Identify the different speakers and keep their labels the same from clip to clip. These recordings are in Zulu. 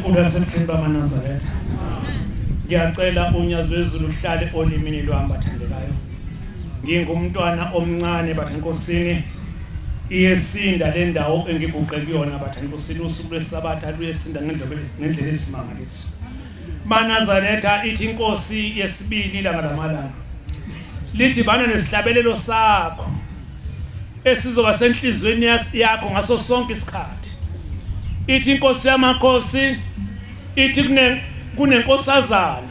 Speaker 1: uNkulunkulu wasebukhulu bamanazaretha ngiyacela unyazi wezulu uhlale olimini lwami bathandekayo ngingumntwana omncane bathenkosini iyesinda le ndawo engiguqe kuyona bathanda kusini usuku lwesabatha luyesinda ngendlela ngendlela esimangaliso banazaretha ithi inkosi yesibili ilanga lamalanga lithi bana nesihlabelelo sakho esizoba senhlizweni yakho ngaso sonke isikhathi ithi inkosi yamakhosi ithi kune kunenkosazana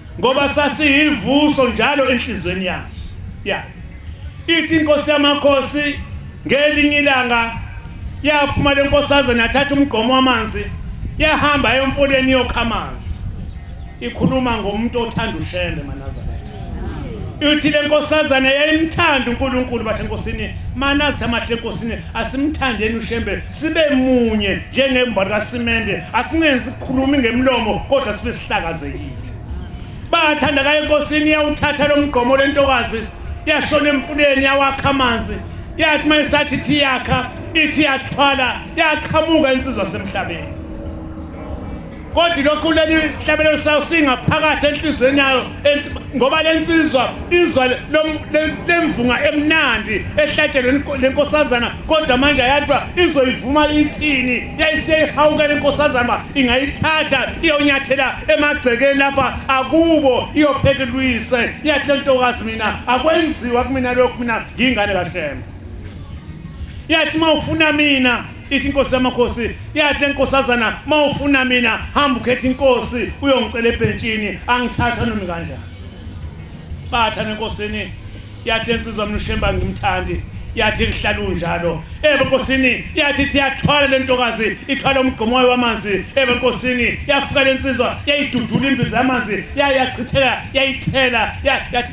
Speaker 1: ngoba sasiyivuso njalo enhlizweni yaso ya ithi inkosi yamakhosi ngelinye ilanga yaphuma le nkosaze nathatha umgqomo wamanzi yahamba emfuleni yokha amanzi ikhuluma ngomuntu othanda ushende manazana uthi le nkosazana yayimthanda uNkulunkulu bathe nkosini manazi amahle nkosini asimthandeni ushembe sibe munye njengembono kasimende asingenzi sikhulumi ngemlomo kodwa sibe sihlakazekile bathanda kaye enkosini yawuthatha lo mgqomo lentokazi yashona emfuleni yawakha amanzi yathi uma isathi ithi yakha ithi yathwala yaqhamuka insizwa semhlabeni kodwa lokhu leli sihlabelelo sayo singaphakathi enhliziyweni yayo ngoba le nsizwa izwa lemvunga emnandi ehlatshelwe le nkosazana kodwa manje yadwa izoyivuma ithini yayiseyihawuka le nkosazana uba ingayithatha iyonyathela emagcekeni lapha akubo iyophethe luyise iyathi le ntokazi mina akwenziwa kumina lokhu mina ngiyingane kahlema iyathi uma ufuna mina ithi inkosi yamakhosi yathi lenkosazana mawufuna mina hamba ukhetha inkosi uyongicela ebhentshini angithatha noma kanjani batha nenkosini yathi insizwa mina ushemba ngimthandi yathi kuhlala unjalo ebe nkosini yathi siyathwala lentokazi ithwala umgqomo wayo wamanzi ebe nkosini yafika lensizwa yayidudula imbiza yamanzi yayachitheka yayithela yathi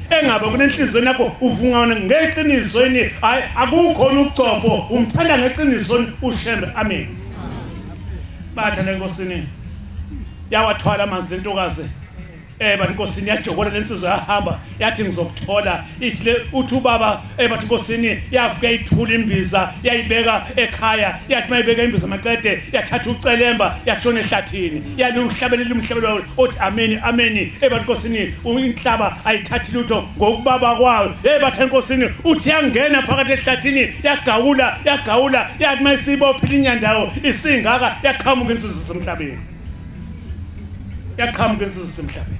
Speaker 1: engaba kunenhlizweni yakho uvungana ngeqinisweni hayi akukhona ucopho umthanda ngeqinisweni ushembe amen batha lenkosini yawathwala amanzi lentokazi eh bantu nkosini yajokola lensizwa yahamba yathi ngizokuthola ithi le uthi ubaba Eh bathi inkosini yafika ithula imbiza yayibeka ekhaya yathi mayibeka imbiza maqede yathatha ucelemba yashona ehlathini yaliwuhlabelela umhlabelo othi ameni ameni eh bathi inkosini inhlaba ayithathi lutho ngokubaba kwayo eh bathe inkosini uthi yangena phakathi ehlathini yagawula yagawula yathi mayisibophile inyandawo isingaka yaqhamuka insuzo semhlabeni yaqhamuka insuzo semhlabeni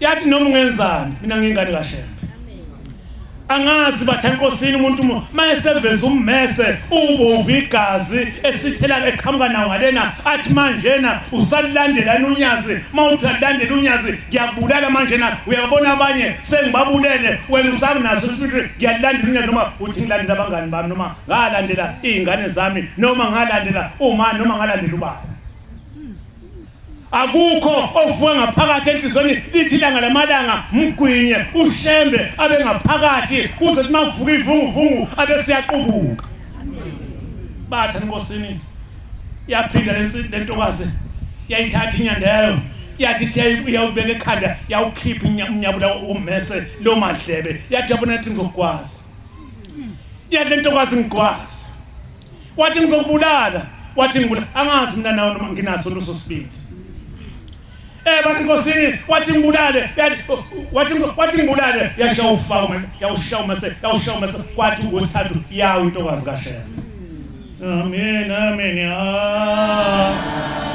Speaker 1: yathi noma ungenzani mina ngingane kaShembe angazi bathe enkosini umuntu mayeseveza ummese ubovu igazi esithela eqhamuka nawo ngalena athi manjena usalilandela unyazi mawuthi alilandela unyazi ngiyabulala manjena uyabona abanye sengibabulele wena usakunaso isithi ngiyalandela unyazi noma uthi ngilandela abangani bami noma ngalandela izingane zami noma ngalandela uma noma ngalandela ubaba akukho okuvuka ngaphakathi enhlizweni lithi ilanga lamalanga mgwinye ushembe abe ngaphakathi kuze kuthi makuvuka ivunguvungu abe siyaqubuka batha enkosini yaphinda lentokazi yayithatha inyanda yayo yathi iyawubeka ekhanda yawukhipha umnyabula ummese loo madlebe yathi yabona yathi ngizokwazi yathi lentokazi ngikwazi wathi ngizokubulala wathi ngibulala angazi mina nawe noma nginaso leso sibindi eh bathi inkosini wathi ngibulale wathi wathi ngibulale yasha ufaka yawushaya mase yawushaya mase kwathi ngosithathu yawo intokazi kashela amen amen ah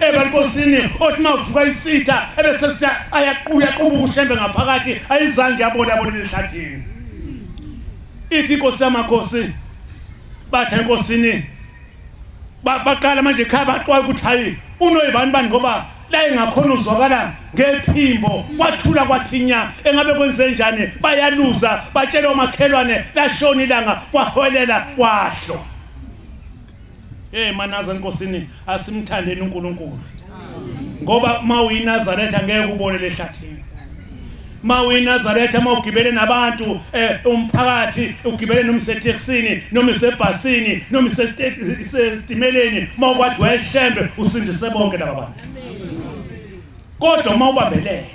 Speaker 1: ebankosini othi mavuka isitha ebese ayaquya qubushembe ngaphakathi ayizange yabona abona lehlathini ithi inkosi yamakhosi bathe enkosini baqala manje ekhaya baxwaye ukuthi hayi unoyibani bani ngoba la engakhona uzwakala ngephimbo kwathula kwathinya engabe kwenze njani bayaluza batshela omakhelwane lashona ilanga kwaholela kwahlo Hey manaza enkosini asimthandeni uNkulunkulu. Ngoba mawuyinazaretha angeke ubone lehlathini. ma uyinazaretha uma ugibele nabantu eh, umphakathi ugibele noma isetheksini noma isebhasini noma isetimeleni uma ukwathi wayeshembe usindise bonke laba bantu kodwa uma ubambelele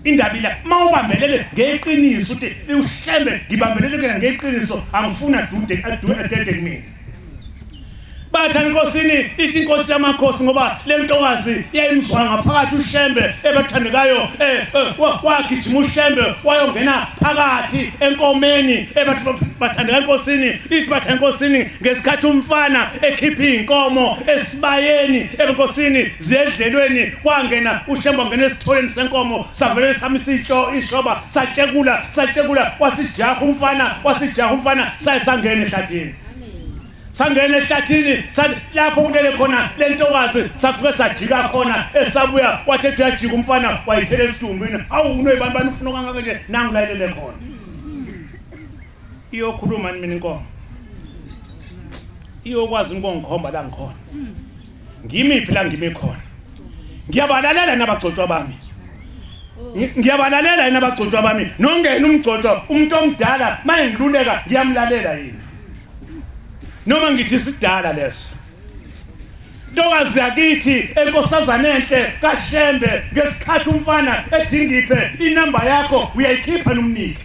Speaker 1: indaba ila uma ubambelele ngeqiniso uthi ushembe ngibambelele kena ngeqiniso angifuna dude adede kumina batha enkosini ithi inkosi yamakhosi ngoba le ntokazi yayimzwa ngaphakathi ushembe ebathandekayo eh, eh, wagijima ushembe wayongena phakathi enkomeni bathandeka enkosini ithi batha enkosini ngesikhathi umfana ekhipha iy'nkomo esibayeni enkosini ziyedlelweni kwangena ushembe wangena esitholeni senkomo savele samisa ishoba satshekula satshekula wasijaha umfana wasijaha umfana saye sangena ehlathini sangena ehlathini lapho kulele khona le ntokazi safike sajika khona esabuya wathi ethi uyajika umfana wayithela esitumbini awu unoyibani bani ufuna kangaka nje nangu layelele khona iyokhuluma ni mina inkomo iyokwazi inkongikhomba la ngikhona ngimiphi la ngime khona ngiyabalalela nabagcotshwa bami ngiyabalalela yini abagcotshwa bami nongena umgcotshwa umuntu omdala maye ngiluleka ngiyamlalela yini noma ngithi sidala leso ntokazi yakithi enkosazana enhle kashembe ngesikhathi umfana ethi ngiphe inamba yakho uyayikhipha nomnike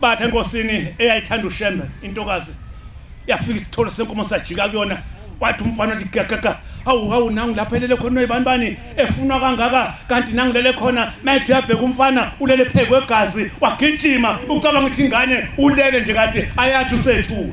Speaker 1: Bathe enkosini eyayithanda uShembe intokazi yafika isithole senkomo sajika kuyona wathi umfana wathi gagaka awu awu nangu lapha elele khona noyibani bani efunwa kangaka kanti nangu lele khona mayethi uyabheka umfana ulele phezu kwegazi wagijima ucabanga ukuthi ingane ulele nje kade ayathi usethule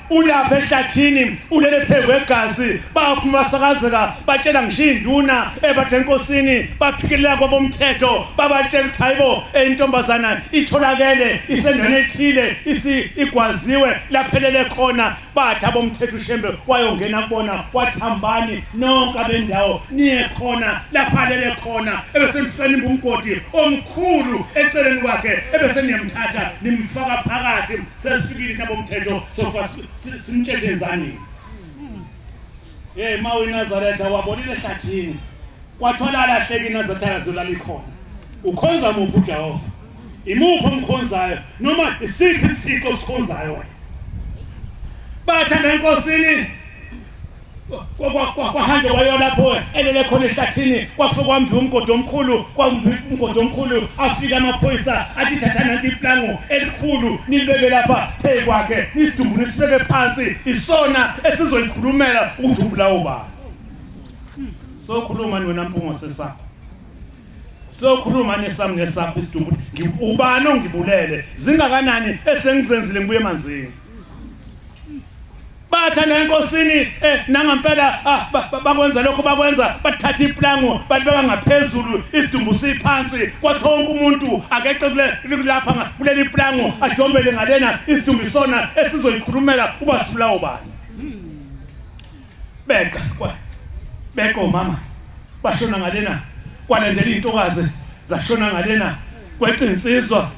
Speaker 1: uyapha ehlathini ulele phezu kwegazi baphuma basakazeka batshela ngisho iy'nduna ebade enkosini baphikelela kwabomthetho babatshela ukuthi hayibo intombazana itholakele isendaweni ethile igwaziwe laphelele khona bathi abomthetho ushembe wayongena kubona wathi hambani nonke abendawo niye khona laphalele khona ebesemfisela imbungodi omkhulu eceleni kwakhe ebeseniyamthatha nimfaka phakathi sesifikile intabomthetho sofa simtshentshe ezanini ye ma uyinazaretha wabonile ehlathini kwatholala ahleke inazarethana zolala ikhona ukhonza muphi ujehova imuphi omkhonzayo noma isiphi isiko osikhonzayo wena bathanda enkosini kwahanjwa kwayo lapho elele khona ehlathini kwafika kwambiwa umgodi omkhulu kwambiwa umgodi omkhulu afike amaphoyisa athi thatha nanti iplango elikhulu nilibeke lapha phezu kwakhe nisidumbu nisibeke phansi isona esizoyikhulumela ukuthi ubulawo bani sokhuluma niwena mpungo sesakho sokhuluma nesami nesakho isidumbu ubani ongibulele zingakanani esengizenzile ngibuye emanzini bathandana enkosini eh, nangampela ah, bakwenza lokho bakwenza bathatha iplango balibeka ngaphezulu isidumbu siphansi kwathi wonke umuntu akeqe kulapha kuleli plango ajombele ngalena isidumbu isona esizoyikhulumela uba sibulawo bani beka beka omama bashona ngalena kwalandela iy'ntokazi zashona ngalena kweqinsizwa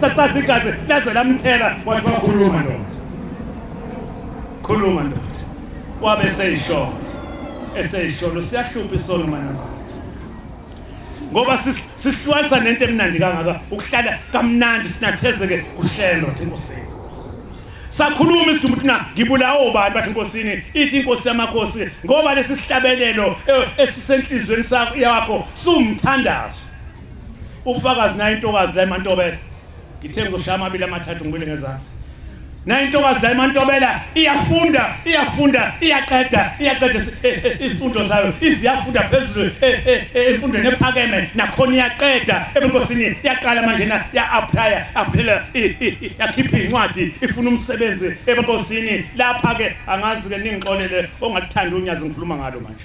Speaker 1: sasasa igazi laze lamthela wathi wakhuluma ndoda khuluma ndoda wabe seyisholo eseyisholo siyahlupha isono manazana ngoba sisihlwalisa nento emnandi kangaka ukuhlala kamnandi sinathezeke kuhlelo nje inkosini sakhuluma isidumbu thina ngibulawa obani bathi inkosini ithi inkosi yamakhosi ngoba lesi sihlabelelo e, esisenhlizweni sakho yakho sumthandazo Ufakazi naye intokazi la eMantobela. Ngithe ngizoshaya amabili amathathu ngibile ngezansi. Naye intokazi la eMantobela iyafunda, iyafunda, iyaqeda, iyaqeda izifundo eh, eh, zayo. Iziyafunda phezulu emfundweni eh, ephakeme nakhona iyaqeda. Ebunkosini yaqala manje na ya apply, aphela yakhipha incwadi ifuna umsebenzi ebunkosini. Lapha ke angazi ke ningixolele ongakuthanda unyazi ngikhuluma ngalo manje.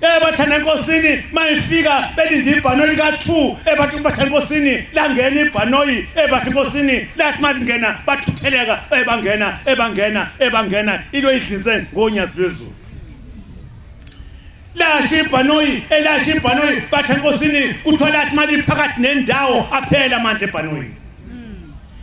Speaker 1: ebathanda eh, enkosini mayifika belinde ibhanoyi lika-2 ebathi eh, kubathanda enkosini langena ibhanoyi ebathi eh, enkosini lathi malingena bathutheleka ebangena ebangena ebangena into idlize ngonyazi lwezulu lasha ibhanoyi elasha ibhanoyi bathi enkosini kuthiwa lathi maliphakathi nendawo aphela amandla ebhanoyini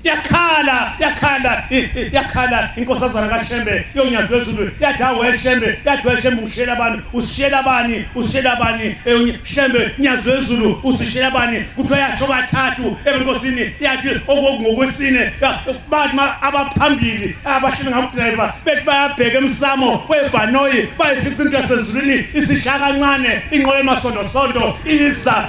Speaker 1: yakhala yakhala yakhala inkosazana kaShembe yonyazi wezulu yadawe Shembe yadawe Shembe ushela abantu usishela bani usishela bani Shembe nyazi wezulu usishela bani kuthiwa yasho kathathu enkosini yathi okokungokwesine bathi abaphambili abashini ngakudriver bethi bayabheka emsamo webhanoyi bayifica into yasezulwini isishaka kancane inqola emasondo sondo iza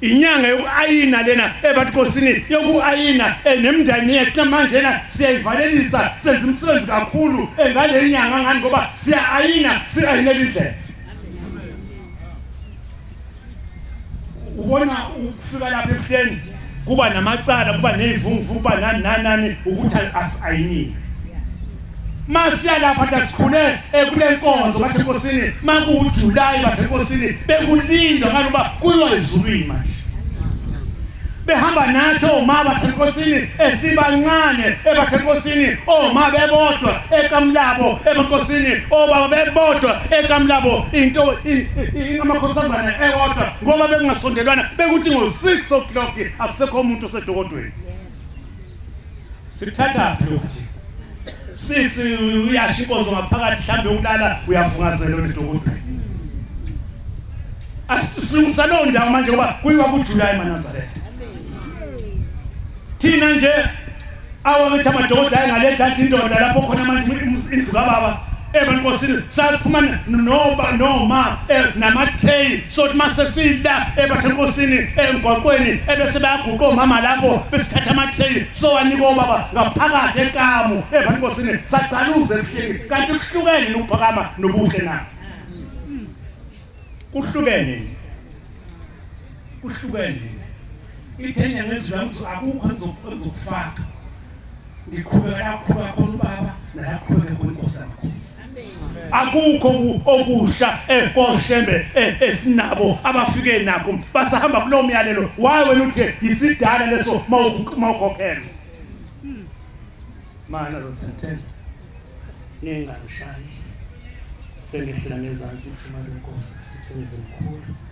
Speaker 1: inyanga yokuayina lena ebatikosini yokuayina eh, nemndani yethu namanje na siyayivalelisa senza umsebenzi kakhulu eh, ngale nyanga ngani ngoba siya-ayina si-ayinela indlela ubona ukufika lapha ebuhleni kuba namacala kuba ney'vunguvungu kuba nani nani nani ukuthi asi-ayinile masiyalapha ndasikhule ekule nkonzo bathe nkosini makuwujulayi bathe nkosini bekulindwa ngani uba kuyiwa ezulwini manje behamba nathi oma bathe nkosini esibancane ebathe nkosini oma bebodwa ekamlabo ebankosini obaba bebodwa ekamlabo into ingamakhosazana ewodwa ngoba bekungasondelwana bekuthi ngo-6 o'clock akusekho umuntu osedokodweni Sikuthathaphi lokhu thina? Sithi uyasho inkonzo ngaphakathi mhlambe ukulala uyavungazela onedokotela. Asisungisa loo ndawo manje ngoba kuyiwa kuJuly eManazaretha. Thina nje awakithi amadoda ayengaletha indoda lapho khona manje indlu kababa ebankosini saphuma noba noma eh, namathei sothi mase sidla ebathekosini engwaqweni ebese bayaguqa omama lapho besithatha amathei sowanika obaba ngaphakathi ekamu evanikosini sagcaluza ebuhleni kanti kuhlukene nokuphakama nobuhle na kuhlukene kuhlukene ithenya ngezwi lami akukho engizokufaka ngiqhubeka la qhubeka khona ubaba nala qhubeka khona inkosi yamakhosi akukho okusha ekoshembe eh, eh, esinabo eh, abafike nakho basahamba kulowo myalelo waye wena uthi yisidala leso mawukhokhela mana lothathela ningangishayi sengehlala ngezansi mfumane inkosi sengize mkhulu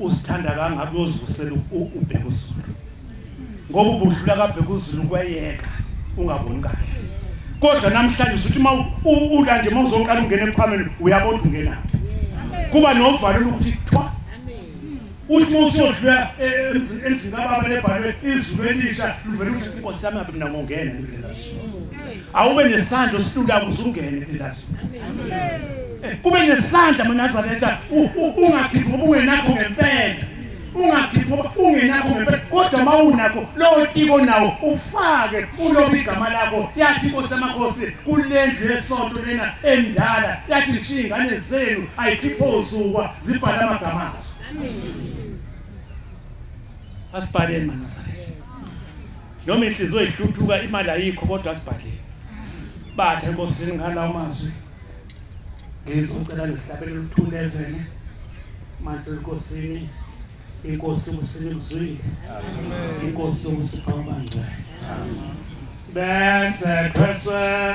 Speaker 1: Usithanda kangaka uyozivusela ubheka uzulu. Ngoba ubudlula kabheka uzulu kweyeka ungaboni kahle. Kodwa namhlanje usuthi uma ula nje mawuzoqala ungena emkhwameni uyabona ungena. Kuba novalo lokuthi thwa. Uthi mawusodlula e, e, emzini kababa lebhalwe izulu elisha livela ukuthi inkosi yami abinakungena. Awube nesandla silula kuzungene. kube nesandla manazaretha ungakhiphi ngoba ungenakho ngempela ungakhiphi ungenakho ngempela kodwa uma unakho lowo tiko nawo ufake uloba igama lakho yathi inkosi amakhosi kule ndlu yesonto lena endala yathi ngishiye ingane zenu ayikhiphe ozukwa zibhale amagama azo asibhaleni manazaretha noma inhliziyo ihluthuka imali ayikho kodwa sibhalile bathe enkosini ngala amazwi ngizocela nesihlabele luthule evene manje enkosini inkosi ukusini kuzwile inkosi ukusipha ubangcwele bese thweswe